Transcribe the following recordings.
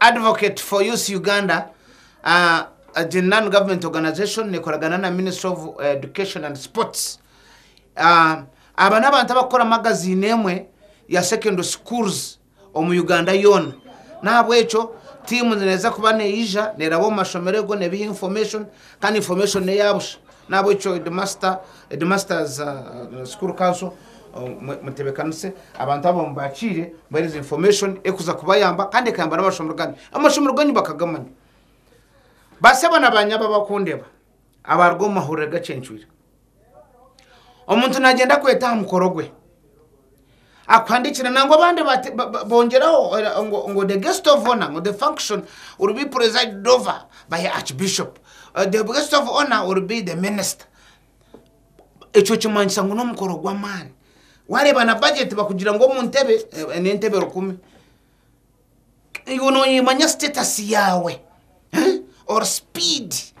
Advocate for Youth Uganda, a non government organization nekoragana na ministry of education and sports, aba n'abantu abakukora magaziini emwe ya secondary schools omu Uganda yoona, n'ahabw'ekyo tiimu neeza kuba neija neraba omu mashomero ego nebiha information kandi information n'eya busha, n'ahabw'ekyo headmaster, headmasters school council Mutebekanise abantu abo mubakiire, mubahereze information ekuza kubayamba kandi ekayamba n'amashomero ganyu. Amashomero ganyu bakagamanya. Baseba na banyabo abakundeba abaruga omu mahurire gacencwire. Omuntu nagenda kweta aha mukoro gwe. Akuhandikira nangwa abandi bongeraho ngo the guest of honor ngo the function will be presided over by archbishop. Uh, the guest of honor will be the minister. ekyo kimanyisa ngu n'omukoro gw'amaani wareeba na bajeti bakugira ngu omu ntebe n'entebe rukumi iwe noyimanya sitetasi yaawe oru sipiidi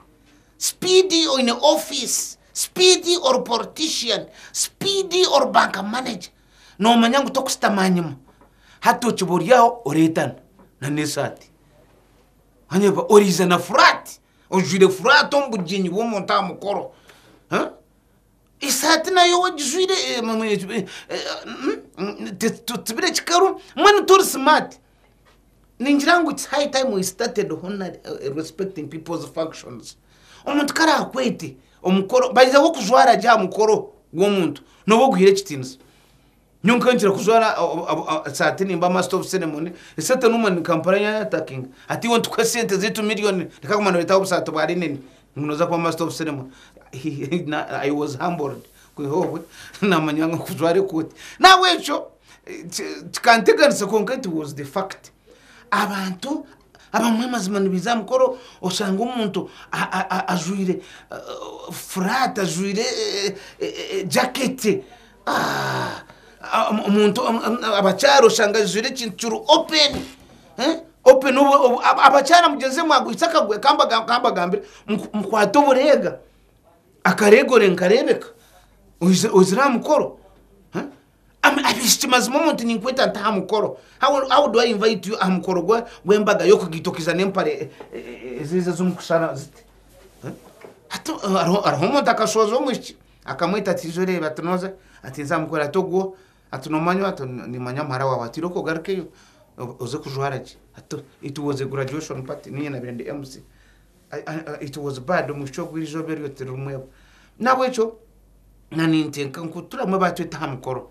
sipiidi oyine ofiisi sipiidi oru poritishiyani sipiidi oru banka maneja nomanya ngu tokusitama nyima hati okiba ori aho oretana na n'esaati wanyeba oriize na furaati ojwaire furaati omu bugyenyi bw'omuntu aha mukoro, esaati nayo wagijwaire totsibire kikaru mbwenu tori simaati, ningira ngu it's high time we started honouring and respecting people's functions, omuntu ku araakwete omukoro, by the way okujwara gye aha mukoro gw'omuntu nooba oguhaire ekitiinisa. Nyowe nkanikira kujwara esaati nimba master of ceremony, esente nobu manya ni Kampala eya attacking hati iwe nitukuha esente zeitu million reka kuguma noreetaho obusaati bwa linen ngu noza kuba master of ceremony I was humbled kwiha obwe namanya ngu kujwara ekooti nahabwekyo kikanteganisa kwonka it was the fact abantu abamwe mazima nibaija aha mukoro oshange omuntu ajwire furaati ajwire jacket. omuntu abakyara oshanga ajwaire ekintu kiri open eh, open abakyara mugyenzi mwagwitse akagwe kambagambire mukwate obureega akareegore nikareebeka ozire aha mukoro abaishiki mazima omuntu ninkweta nti aha mukoro how do i invite you aha mukoro gw'embaga y'okugaita okaiza n'empare eziizi ez'omukushaara ziti hati hariho omuntu akashooza omwishiki. Akamweta ati ijo reeba ati noza ati nzamukora ati ogwo ati nomanywa ati nimanya muhara wawe ati iroka ogarukeyo oze kujwara gye ati it was a graduation party ninye nabire ndi MC it was bad omwishiki ogwo erizooba eryo tirirumwebwa nahabwekyo na nintenka ngu turamuhe batwete aha mukoro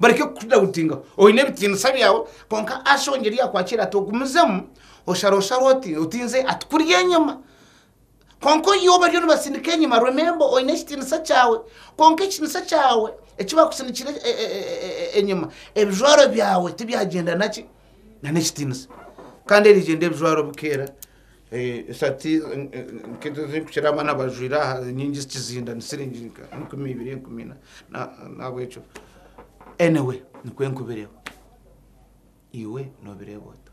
Bareke kukudawutingaho. Oine ebitiinisa byawe kwonka ashonga eri yakwakira ati ogumizemu oshara oshara oti oti nze ati kurya enyama kwonka oyiwe bariyo nibasindika enyama remember oine ekitiinisa kyawe kwonka ekitiinisa kyawe eki bakusindikire enyama ebijwaro byawe tibyagyenda naki na n'ekitiinisa kandi erigyenda ebijwaro bikeera. Eh, esati nkezo ezirikukira abana bajwire aha nyingi zikizinda ni siringi nka enkumi ibiri enkumi ina Na- nahabwekyo anyway nikwo nkubireho iwe nobireeba ota